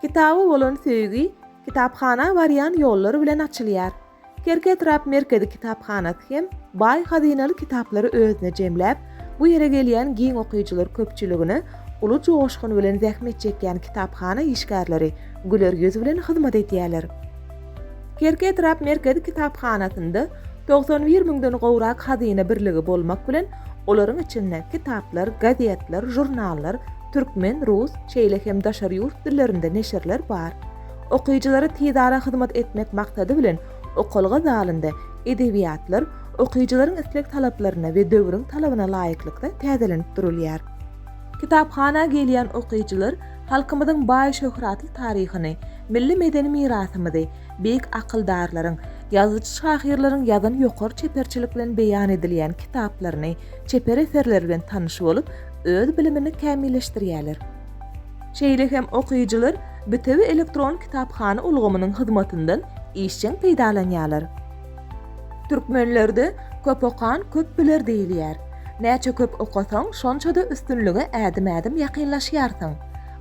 Kitaba bolan söýgi kitaphana barýan ýollar bilen açylýar. Kerki etrap merkezi kitaphanasy hem baý hazynaly kitaplary özüne jemläp, bu ýere gelýän giň okyjylar köpçüligine uly joşgun bilen zähmet çekýän kitaphana işgärleri güler ýüz bilen hyzmat edýärler. Kerki etrap merkezi kitaphanasynda togsan bir müňden gowrak hazyna birligi bolmak bilen, olaryň içinde kitaplar, gazetler, žurnallar, Türkmen, rus, şeýle hem daşary ýurt dillerinde neşirler bar. Okyjylara tizara hyzmat etmek maksady bilen okalga zalynda edebiýatlar okyjylaryň isleg-talaplaryna we döwrüň talabyna laýyklykda täzelenip durulýar. Kitaphana gelýän okyjylar halkymyzyň baý şöhratly taryhyny, milli medeni mirasymyzy, beýik akyldarlaryň, ýazyjy-şahyrlaryň ýazan ýokary çeperçilik bilen beýan edilýän kitaplaryny, çeper eserleri bilen tanyş bolup, öz bilimini kämilleşdirýärler. Şeýle hem okyjylar bitewi elektron kitaphana ulgamynyň hyzmatyndan işjeň peýdalanýarlar. Türkmenlerde Köp okan, köp biler diýilýär. Näçe köp okasaň, şonça-da üstünlige ädim-ädim ýakynlaşýarsyň.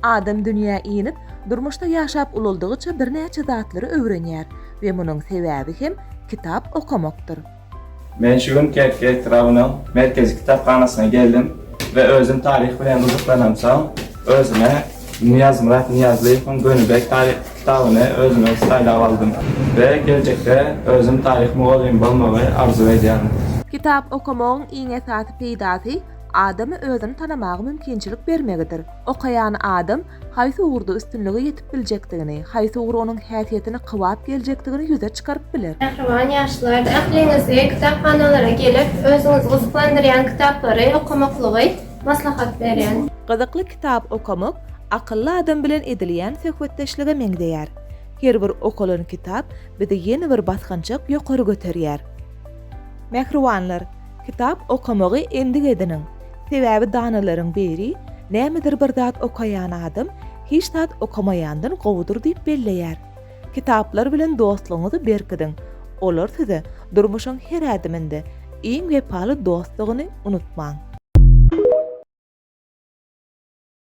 Adam dünýä inip, durmuşda ýaşap ulaldygyça birnäçe zatlary öwrenýär we munuň sebäbi hem kitap okamakdyr. Men şu gün Kerki etrabynyň Merkezi kitaphanasyna geldim we özüm taryh bilen gyzyklanamsoň, özüme Nyýazmyrat Nyýazlyýewiň Gönübek taryh kitabyny özüme saýlap aldym we geljekde özüm taryh mugallymy bolmagy arzuw edýärin. Kitap okamagyň iň esasy peýdasy adama özüni tanamaga mümkinçilik bermegidir. Okaýan adam haýsy ugurda üstünlige ýetip biljekdigini, haýsy ugur onuň häsiýetini kybap geljekdigini ýüze çykaryp biler. Mähriban ýaşlar, ähliňizi kitaphanalara gelip, özüňizi gyzyklandyrýan kitaplary okamaklygy maslahat berýän. Gyzykly kitap okamak akylly adam bilen edilýän söhbetdeşlige meňzeýär. Her bir okalan kitap bizi ýene bir basgançak ýokary göterýär. Mähribanlar, Kitap okamagy endik ediniň. Sebäbi danalaryň biri Nämedir bir zat okaýan adam hiç zat okamaýandan gowudyr diýip belleýär. Kitaplar bilen dostlugyňyzy berkidiň. Olar size durmuşyň her ädiminde iň wepaly dostdugyny unutmaň.